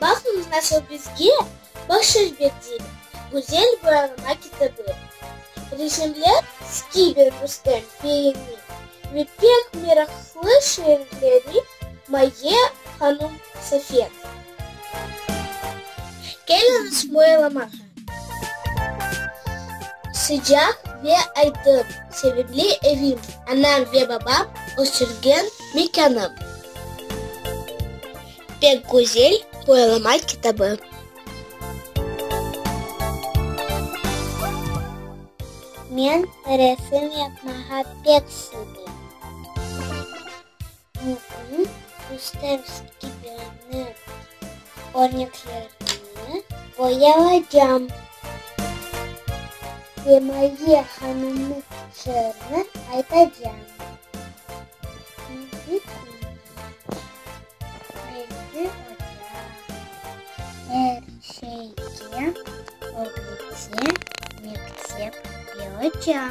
Baqıñız nasıl bizge bahşiş berdiler güzel boyalama kitabı, resimler Skiber Rustem beyniñ ve pek meraqlı şiirleri Maye hanum Safenovanıñ. Keliñiz boyalamağa. Sıcaq ve aydın, sevimli evim, anam ve babam östürgen mekânım. Pek güzel boyalama kitabı. Men resim yapmağa pek sevem. Bugün Dostoyevskiy kibirini örneklerini boyayacam. Semaye hanımnıñ şiirini aytacam. Çünki Bildi oca, er şeyge ögretse mektep ve oca.